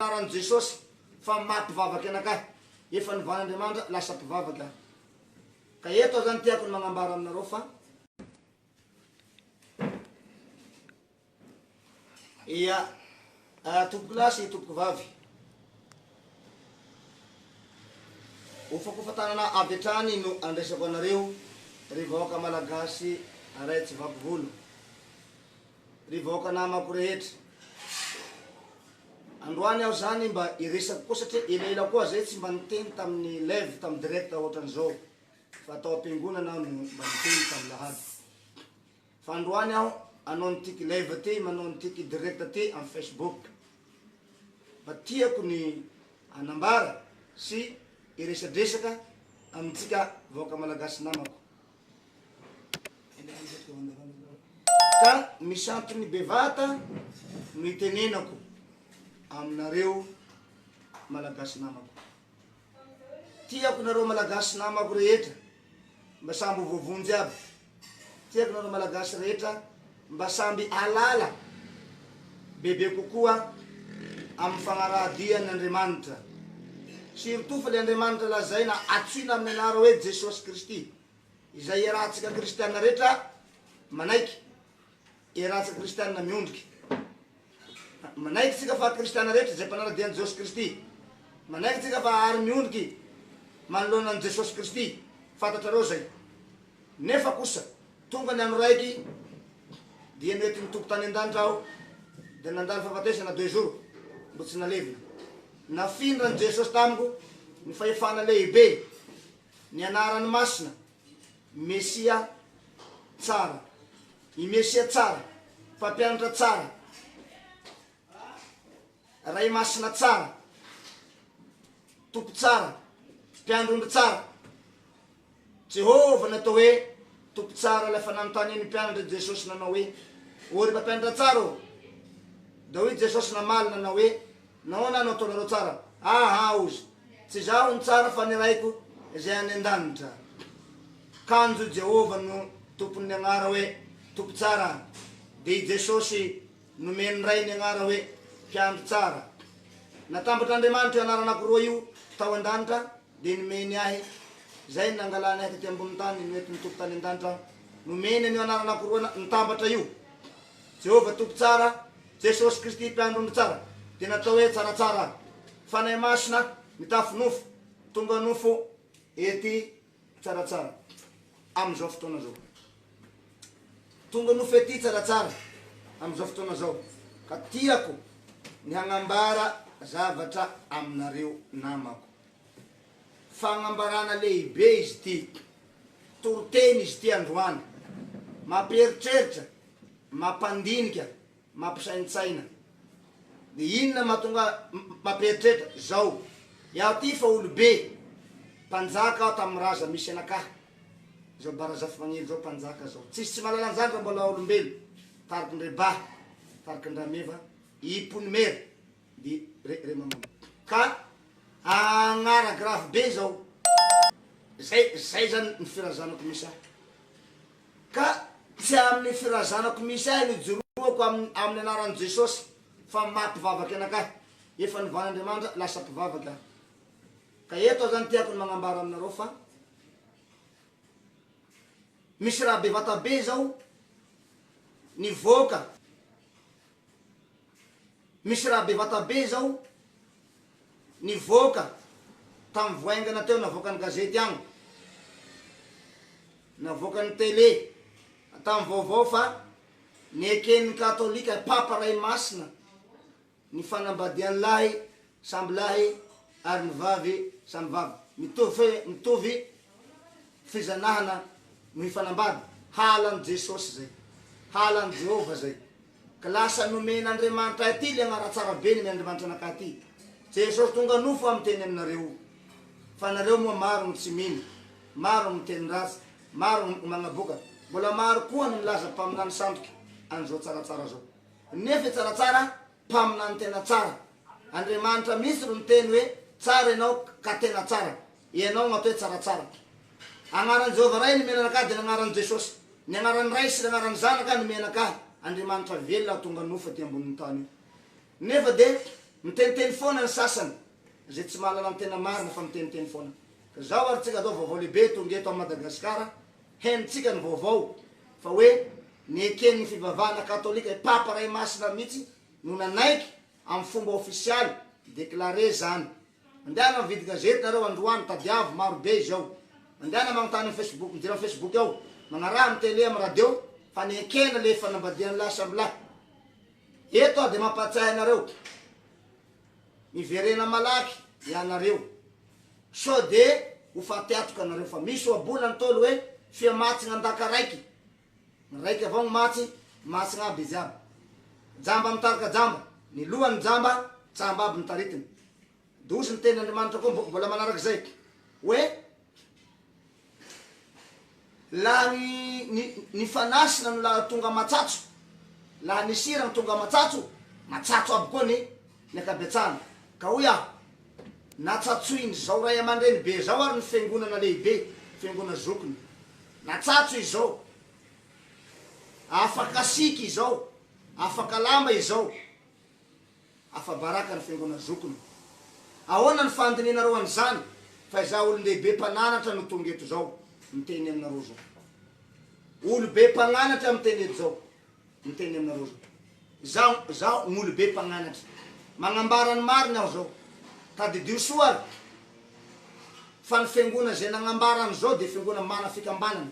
Anaran'i Jesosy fa maty mpivavaka ianakahy, efa novana Andriamanitra lasa mpivavaka aho. Ka eto aho zany tiako ny magnambara aminareo fa. Ia, ah, tompokolahy sy tompokovavy. Hofakofantanana avy hatrany no andresako anareo, ry vahoaka Malagasy ray tsy vaky volo. Ry vahoaka namako rehetra. Androany aho zany mba hiresaka koa satria elaela koa zay tsy mba niteny tamin'ny live tamin'ny direct ohatran'izao fa tao am-piangonana aho no mba niteny tamin'ny lahady. Fa androany aho anao nitiky live ty manao nitiky direct ty amin'ny Facebook. Mba tiako ny hanambara sy hiresadresaka amintsika vahoaka malagasy namako. Ka misampiny bevata no itenenako aminareo Malagasy namako. Tiako nareo Malagasy namako rehetra mba sambo voavonjy aby. Tiako nareo Malagasy rehetra. Mba samby hahalala bebe kokoa amin'ny fagnarahadian' Andriamanitra. Surtout fa le Andriamanitra lazaina atsoina amin'ny anara hoe Jesosy Kristy, izay iarahantsika kristiana rehetra manaiky, iarahantsika kristiana miondrika. Manaiky tsika fa kristiana rehetra izay mpanaradia an'i Jesosy Kristy. Manaiky tsika fa hahary miondriky manoloana an'i Jesosy Kristy, fantatrareo zay. Nefa kosa. Tonga ny andro raiky dia nety ny Tompo tany an-danitra aho dia nandalo fahafatesana deux jours mbo tsy nalevina. Nafindran'i Jesosy tamiko ny fahefana lehibe, ny anarany masina, Mesia tsara. I Mesia tsara, Mpampianatra tsara. Ray Masina tsara, Tompo tsara, Mpiandry omby tsara. Jehovah no atao hoe Tompo tsara, ilay efa nanontany ny mpianatra i Jesosy nanao hoe, O ry Mpampianatra tsara ô! Dia hoy i Jesosy namaly nanao hoe, Nahoana no ataonareo tsara ahy hozy? Tsy izaho no tsara fa ny Raiko izay any an-danitra. Kanjo i Jehovah no Tompon'ny anara hoe Tompo tsara, dia i Jesosy Nomen'ny Ray ny anara hoe Mpiandry Tsara. Natambatr'Andriamanitra io anaranako roa io tao an-danitra dia nomeny ahy. Izay no nangalany ahy tety ambonin'ny tany noentin'ny Tompo tany an-danitra aho. Nomeny an'io anaranako roa nitambatra io, Jehovah Tompo Tsara, Jesosy Kristy Mpiandry Ondry Tsara, dia natao hoe Tsaratsara aho. Fanahy Masina mitafy nofo, tonga nofo ety Tsaratsara amin'izao fotoana izao. Tonga nofy aty Tsaratsara amin'izao fotoana izao ka tiako ny hagnambara zavatra aminareo namako. Fagnambarana lehibe izy ity, toriteny izy ity androany, mampieritreritra, mampandinika mampisaintsaina de inona matonga mampieritreritra zao iaho ty fa olobe mpanjaka aho tam raza misy anaka zao ba razafimangidy zao mpanjaka zao tsisy tsy mahalala anzany ra mbola olombelo tariky ndre ba tariky ndrameva iponimera Be re re maman ka agnara grave be zao zay zay zany ny firazanako misy ahy ka tsy aminy firazanako misy ahy no ijoroako aminy anarany jesosy fa maha mpivavaka anakahy efa nivan andriamanitra lasa mpivavaka aho ka eto aho zany tiako ny magnambara aminareo fa misy raha bevata be zao nivoaka Misy raha bevata be izao nivoaka tamin'ny voaingana teo navoakan'ny gazety an! navoakan'ny tele tamin'ny vaovao fa neken'ny katolika, papa ray masina, ny fanambadian'ilay Samby lahy ary ny vavy samy vavy. Mitovy mitovy fizanahana no hifanambady. Halan'i Jesosy zay. Halan'i Jehovah zay. Ka lasa nomen'Andriamanitra aty le agnaratsara be ny Andriamanitra anakahy aty. Jesosy tonga nofo aho miteny aminareo fa nareo moa maro gny tsy mino, maro gny miteny ratsy, maro gny magnaboka, mbola maro koa ny milaza mpaminany sandoka an'izao tsaratsara zao. Nefa i tsaratsara Mpaminany tena tsara. Andriamanitra mihitsy ro niteny hoe tsara ianao ka tena tsara. Ianao no atao hoe tsaratsara. Agnaran'i Jehovah Ray nomena anakah dia ny agnaran'i Jesosy. Ny agnaran'ny Ray sy ny agnaran'ny Zanaka nomena anakah. Andriamanitra velona tonga nofo aty ambonin'ny tany io. Nefa dia miteniteny foana ny sasany. Izay tsy mahalala ny tena marina fa miteniteny foana. Ka izao ary tsika atao vaovao lehibe tonga eto amin'i Madagasikara. Henontsika ny vaovao fa hoe neken'ny fivavahana katolika i Papa Ray Masina mihitsy no nanaiky amin'ny fomba ofisialy, déclaré, izany. Mandehana mividy gazety nareo androany, tadiavo, maro be izao. Mandehana magnontany amin'ny Facebook, midira amin'ny Facebook ao, magnaraha amin'ny télé, amin'ny radio fa nekena le fanambadian'lahy samy lahy. Eto aho dia mampahatsiahy anareo. Miverena malaky ianareo sao de ho faty atoka nareo fa misy ohaboana ny Ntaolo hoe fia matsgna andaka raiky ny raiky avao ny matsy matsgna aby izy aby jamba mitarika jamba ny lohan ny jamba jamba aby ny taritiny dozy ny teny Andriamanitra koa mbola manarak'izay hoe Lany ny ny fanahy sy nano laha tonga matsatso laha ny sira no tonga matsatso matsatso aby koa ny ny ankabetsahany ka hoy aho natsatsoiny zao ray amandreny be zao ary ny fiangonana lehibe fiangona zokiny natsatso izao afaka siky izao afaka lamba izao Afa-baraka ny Fiangonan'ny Zokiny. Ahoana ny fandinihanareo an'izany fa izaho olon-dehibe mpananatra no tonga eto izao miteny aminareo izao? Olo-be mpagnanatra miteny eto izao miteny aminareo izao. Izaho, izaho no olo-be mpagnanatra. Magnambara ny marina aho izao. Tadidio soa ary fa ny Fiangona izay nagnambara an'izao dia Fiangona mana fikambanana.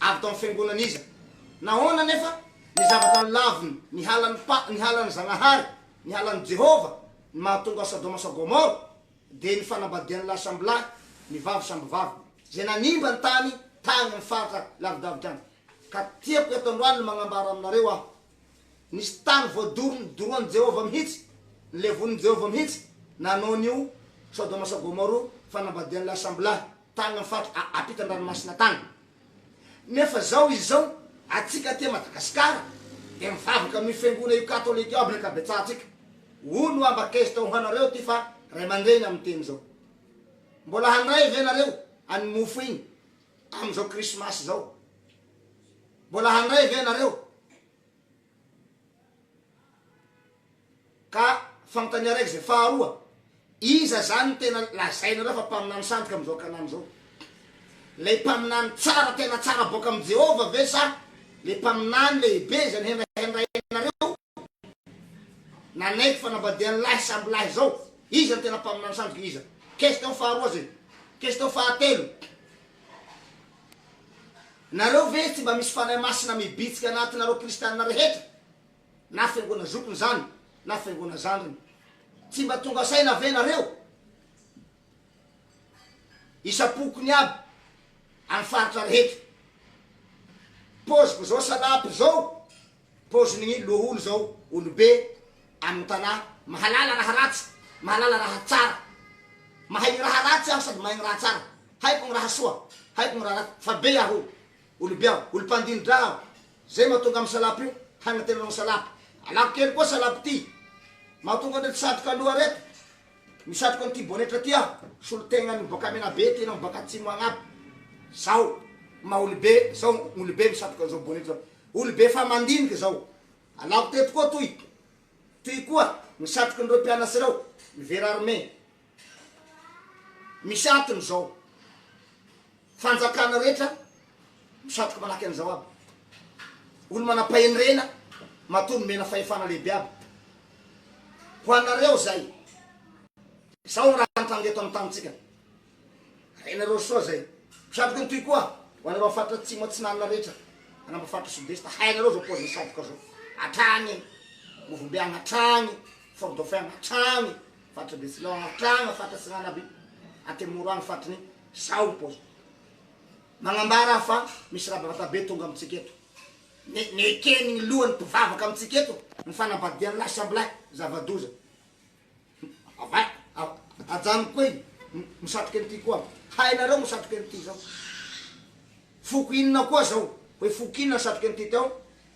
Avy tao amin'ny fiangonana iza? Nahoana anefa ny zavatra nolaviny nihalan'ny pa, nihalan'ny Zagnahary, nihalan'i Jehovah, ny mahatonga Sodoma sy Gomora? Dia ny fanambadian'ny lahy samby lahy, ny vavy samby vavy, izay nanimba ny tany tagny amin'ny faritra lavidavitra agny. Ka tiako eto androany ny magnambara aminareo aho. Nisy tany voadoro nidorohan'i Jehovah mihitsy, nilevonin'i Jehovah mihitsy nanao an'io Sodoma sy Gomoro fanambadian'ilay sambo-lahy tany amin'ny faritra ampitan-dranomasina tany. Nefa izao izy izao, antsika aty Madagasikara dia mivavaka amin'io fiangonana io katolika io amin'ny ankabetsahantsika. Hoy no ambak'ezta ho anareo ity fa ray aman-dreny amin'ny teny izao. Mbola handray ve nareo an'iny mofo iny? Amin'izao krismasy izao, mbola handray ve ianareo? Ka fanontania araiky izay. Faharoa, iza izany no tena lazainareo fa mpaminany sandoka amin'izao ankanany izao? Ilay mpaminany tsara tena tsara boaka amin'i Jehovah ve sa ilay mpaminany lehibe izay nohendrahendrainareo nanaiky fanambadian'ny lahy samby lahy zao, iza no tena mpaminany sandoka iza? Question faharoa zay. Question fahatelo, nareo ve tsy mba misy fanahy masina mibitsika anatinareo kristianina rehetra? na fiangona zokiny zany na fiangona zandriny, tsy mba tonga saina ve nareo? isam-pokony aby any faritra rehetra, poziko zao salapy zao, Paozin'ny loholona izao olobe amin'ny tanà mahalala raha ratsy, mahalala raha tsara. Mahay ny raha ratsy aho sady mahay ny raha tsara. Haiko ny raha soa, haiko ny raha ratsy. Fa be aho, olobe aho, olom-pandini-dra aho. Izay mahatonga amin'ny salapy io hanantenana ny salapy. Alako kely koa salapy ity. Mahatonga an'ireto satroka loha ireto misatroka an'ity bonetra ity aho. Solon-tenan'ny boaka Menabe ity na miboaka Atsimo agnabo. Izao maha-olobe, izao olobe misatroka an'izao bonetra izao. Olobe efa mandinika izao. Alako teto koa toy. Toy koa ny satrokin'ireo mpianatsa ireo, ny vera armé. Misy antony izao. Fanjakana rehetra misatroka manahaky an'izao aby. Olo-manam-pahendrena matoa nomena fahefana lehibe aby. Ho anareo izay. Izao ny raha nitranga eto amin'ny tanintsika. Renareo soa zay. Mpiatrika ny toy koa ho anareo am faritra atsimo atsinanana rehetra manamba faritra sud est hainareo zao paoziny sadoka zao hatrany any movombe any hatrany fort dauphin any hatrany faritra betsileo any hatrany faritra atsinanana aby antemoro any faritry ny sao ny paoziny magnambara aho fa misy raha bevatabe tonga amintsika eto ne neken'ny lohany mpivavaka amintsika eto ny fanambadian'ny lahy samby lahy zava-doza Avay! Ajanoko koa iny! Misatroka an'ity koa aho! Hainareo misatroka an'ity zao! Foko inona koa zao? Hoe foko inona ny satroka an'ity teo,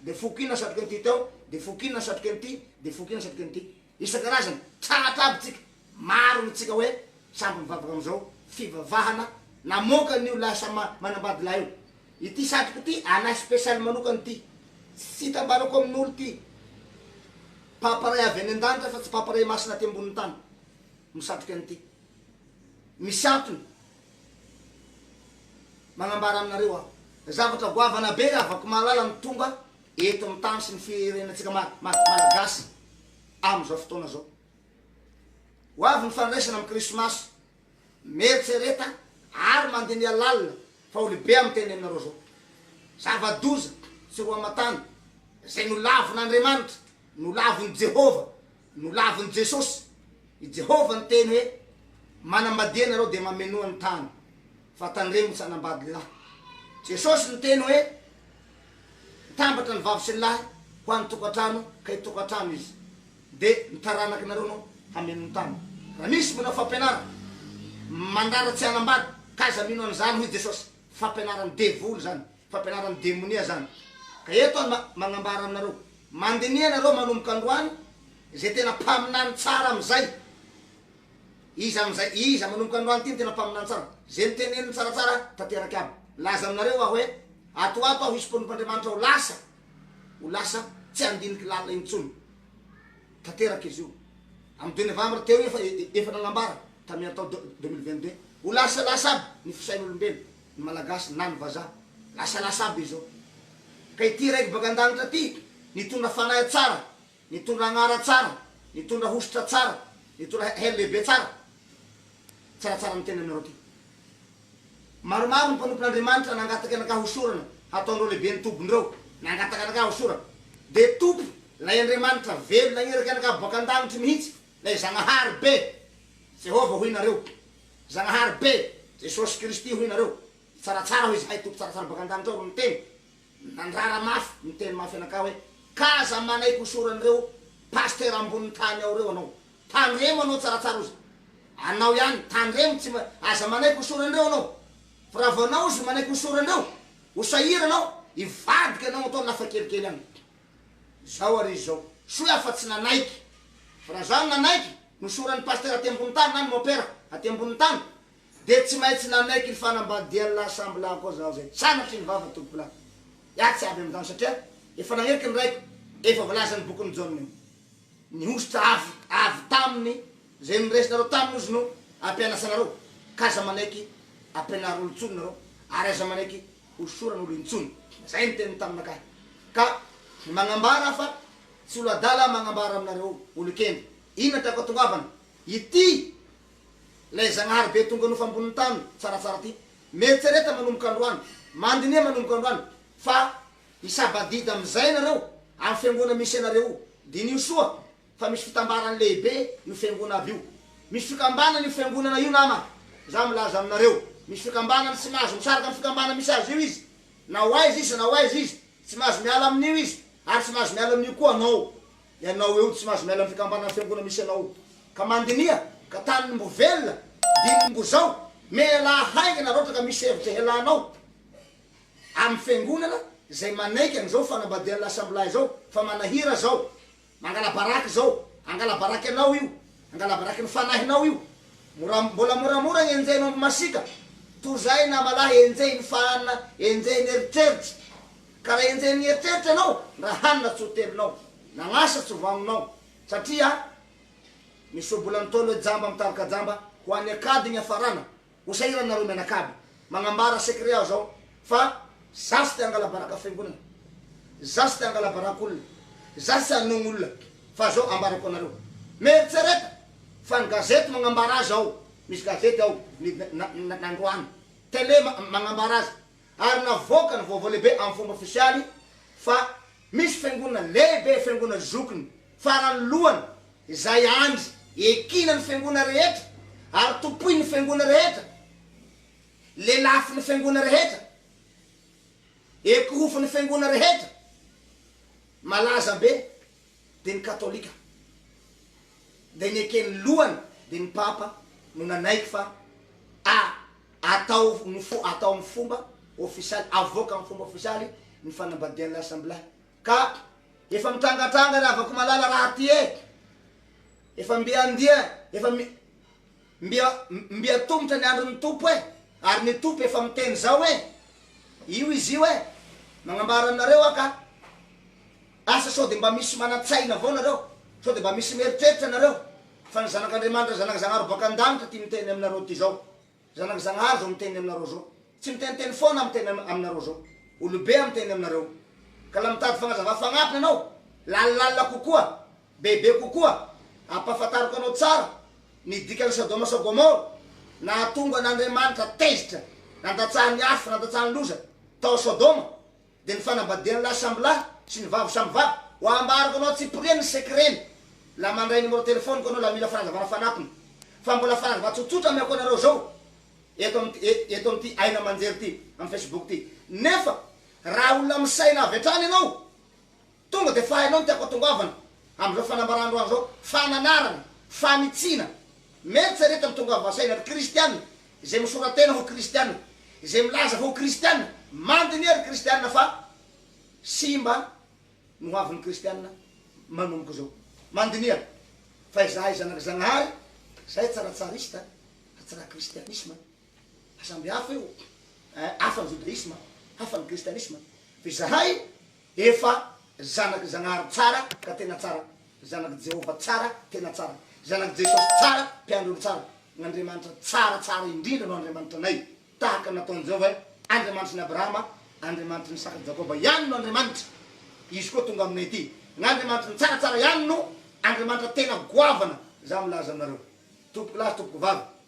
dia foko inona ny satroka an'ity teo, dia foko inona ny satroka an'ity, dia foko inona ny satroka an'ity. Isan-karazany! Tratra aby tsika! Maro ny tsika hoe samby mivavaka amin'izao fivavahana namoaka an'io lahy samy manambady lahy io. Ity satriko ity anay special manokana ity tsy hitambarako amin'olo ity Papa Ray avy any an-danitra fa tsy Papa Ray Masina aty ambonin'ny tany no satriko an'ity misy antony magnambara aminareo aho zavatra goavana be raha vao ko mahalala ny tonga eto amin'ny tany sy ny firenantsika Malagasy amin'izao fotoana izao ho avy ny fandraisana amin'ny krismasy Mieritrereta ary mandiniha lalina fa olobe amin'ny teneninareo zao. Zava-doza sy roa aman-tany izay nolavin'Andriamanitra, nolavin'i Jehovah, nolavin'i Jesosy. I Jehovah niteny hoe, Manambadiha ianareo dia mamenoa ny tany, fa tandremo tsy hanambady lahy. Jesosy niteny hoe, Mitambatra ny vavy sy ny lahy ho any tokantrano ka itokantrano izy de ny taranaky nareo no hameno ny tany raha misy manao fampianarana mandrara tsy hanambady k'aza mino an'izany hoy Jesosy fampianaran'ny devoly zany fampianaran'ny demonia zany ka eto aho magnambara aminareo mandiniha nareo manomboka androany ze tena mpaminany tsara amizay Iza amin'izay, iza manomboka androany ity ny tena mpaminany tsara? Izay noteneniny tsaratsara tanteraka ihany. Nilaza aminareo aho hoe, Ato ato aho hisy mpanompon'Andriamanitra ho lasa, ho lasa tsy handinika lalina intsony. Tanteraka izy io. Amin'ny deux novembre teo io efa, efa nanambara, tamin'ny tao deux, deux mille vingt deux. Ho lasalasa aby ny fisain'olombelo, ny Malagasy na ny Vazaha. Lasalasa aby izao. Ka ity Raiky baka an-danitra ity, nitondra fanahy tsara, Nitondra anara tsara, nitondra hosotra tsara, nitondra hery lehibe tsara. Tsaratsara ny tena anareo ty. Maromaro ny mpanompon'Andriamanitra nangataka anakah hosorana hataondreo lehibe ny tobindreo, nangataka anakah hosorana. Dia Tompo, ilay Andriamanitra velona nanireky anakah boaka an-danitry mihitsy, ilay Zagnahary be, Jehovah hoy nareo, Zagnahary be, Jesosy Kristy hoy nareo, tsaratsara hoy izahay Tompo tsaratsara boaka an-danitra ao ro niteny, Nandrara mafy niteny mafy anakahy hoe, ka aza manaiky ho soran'ireo pasitera ambonin'ny tany ao ireo anao. Tandremo anao tsaratsara ozy. Anao ihany, tandremo tsy, aza manaiky ho soran'ireo anao. Fa raha vao anao ozy manaiky ho soran'ireo, ho sahirana ao, hivadika anao atao lafa kelikely any. Zao ary izy zao, soa aho fa tsy nanaiky. Fa raha zaho no nanaiky, nosoran'ny pasitera aty ambonin'ny tany na ny mopera aty ambonin'ny tany, Dia tsy maintsy nanaiky ny fanambadian'ny lahy sambo lahy koa zaho izay tsanatry ny vava tompoko lahy. Iah tsy avy amin'izany satria efa nagneky ny raiko efa voalazan'ny bokin'i Jaona io. Ny hosotra avy avy taminy izay noresinareo taminy ozy no ampianasanareo ka aza manaiky ampianaro olo intsony nareo ary aza manaiky hosorana olo intsony. Izay ny teniny taminakahy. Ka ny magnambara fa tsy olo adala aho magnambara aminareo olo kenda. Inona tiako atongavana? Ity! Ilay Zagnahary be tonga nofo ambonin'ny tany tsaratsara ity. Mieritrereta manomboka androany, mandiniha manomboka androany fa hisabadida amin'izay ianareo amin'ny fiangonana misy ianareo io. Diniho soa fa misy fitambarany lehibe io fiangonana avy io. Misy fikambanana io fiangonana io nama, za milaza aminareo. Misy fikambanana, tsy mahazo misaraka amin'ny fikambanana misy azy io izy. Na ho aiza izy na ho aiza izy, tsy mahazo miala amin'io izy ary tsy mahazo miala amin'io koa anao. Ianao eo no tsy mahazo miala ny fikambanan'ny fiangonana misy anao io ka mandiniha ka taniny mbo velona dininy mbo zao mealaha haingana raotra ka misy hevitra hialanao aminy fiangonana zay manaiky anizao fanambadian'ny lasambilahy zao fa manahira zao mangalabaraka zao angalabaraka ianao io angalabaraka ny fanahinao io mora mbola moramora ny enjehinao ambo masika toy zay namalahy enjehin'ny fahana enjehin'ny eritreritra Ka raha enjehin'ny eritreritra ianao, raha hanina tsy ho telonao, na asa tsy ho vaminao, satria misy ohabola nitaolo hoe jamba mitarika jamba ho any akady ny hafarana, ho sahirana nareo mianakavy, magnambara secret aho zao fa za tsy te hangalabaraka fiangonana, za tsy te hangalabaraka olona, za tsy hanogno olona, fa zao ambarako anareo, mieritsereta fa ny gazety magnambara azy ao, misy gazety ao, midina na androany, tele magnambara azy, ary navoaka ny vaovao lehibe amin'ny fomba ofisialy fa misy fiangonana lehibe, fiangonana zokiny farany lohany izay andry ekina ny fiangonana rehetra ary tompoin'ny fiangonana rehetra, lelafin'ny fiangonana rehetra, ekohofin'ny fiangonana rehetra malaza be dia ny katolika dia ny eken'ny lohany dia ny papa no nanaiky fa a Atao ny fo, atao amin'ny fomba ofisialy, avoaka amin'ny fomba ofisialy ny fanambadian'ilay assemblahy. Ka efa mitrangatranga ry havako malala raha ty eh! Efa mby handia, efa mi, mby, mby hatomotra ny andron'ny Tompo eh! Ary ny Tompo efa miteny izao eh! Io izy io eh! Magnambara aminareo aho ka! Asa sao dia mba misy manan-tsaina avao nareo? Sao dia mba misy mieritreritra nareo? Fa ny Zanak' Andriamanitra, Zanak' Zagnahary baka an-danitra ty miteny aminareo ty zao. Zanak' Zagnahary zao miteny aminareo zao. Tsy miteniteny foana aho miteny aminareo zao. Olobe aho miteny aminareo. Ka la mitady fagnazava fagnatona anao, lalilalina kokoa, bebe kokoa, ampafantariko anao tsara ny dikan' ny Sadoma sy Gomora, nahatonga an' Andriamanitra tezitra, nandatsahan' ny afo, nandatsahan' ny loza tao Sodoma, Dia ny fanambadian lahy samy lahy sy ny vavy samy vavy ho ambarako anao tsipiriany ny secret ny la mandray numéro téléphone ko anao la mila fanazavana fanampiny fa mbola fanazava tsotsotra ameko anareo zao eto amty e eto amty aina amanjery ty am facebook ty nefa raha olona misaina avy hatrany ianao Tonga dia fahaino ny tiako atongavana amin'izao fanambarandroany izao, fananarana, fanitsiana, mieritreretana tonga avy an-tsaina ry kristiana, izay misora-tena ho kristiana, izay milaza fa ho kristiana, mandiniha ry kristiana fa simba ny hoavin'ny kristiana manomboka izao. Mandiniha fa izahay zanak'i Zagnahary, izahay tsy ra-tsarista fa tsy ra-kristianisma, fa samby hafa io, hafa ny jodaisma, hafa ny kristianisma, fa izahay Efa zanak'i Zagnahary tsara ka tena tsara, zanak'i Jehovah tsara, tena tsara, zanak'i Jesosy tsara, mpiandry olo tsara, n'Andriamanitra tsara, tsara indrindra no Andriamanitranay, tahaka ny nataon'i Jehovah hoe, Andriamanitry ny Abrahama, Andriamanitry ny sak'i Jakoba ihany no Andriamanitra, izy koa tonga aminay ity. N'Andriamanitry ny tsaratsara ihany no Andriamanitra tena goavana, izaho milaza aminareo, tompokolahy sy tompokovavy,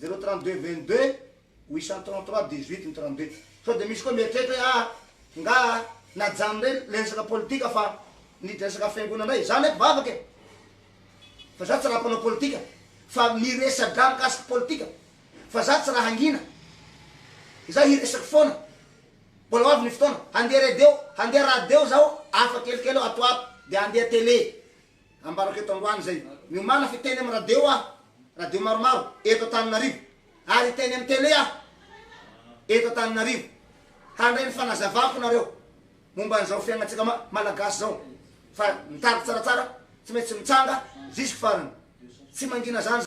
Zéro trente deux vingt deux huit cent trente trois dix huit ny trente deux sao dia misy koa mieritreritra hoe ah nga najanony re le resaka politika fa niditra resaka fiangonana indray za nefa vavaka e fa za tsy raha mpanao politika fa miresadra mikasika politika fa za tsy raha hangina za hiresaka foana mbola ho avy ny fotoana handeha radio handeha radio zaho hafa kelikely aho ato ato dia handeha télé Ambarako eto androany izay niomana fa hiteny amin'ny radio aho, radio maromaro eto Antananarivo, ary hiteny amin'ny tele aho eto Antananarivo, handray ny fanazavako nareo momba an'izao fiainantsika Malagasy izao, fa ny tariko tsaratsara tsy maintsy mitsanga jusque farany, tsy mangina izany.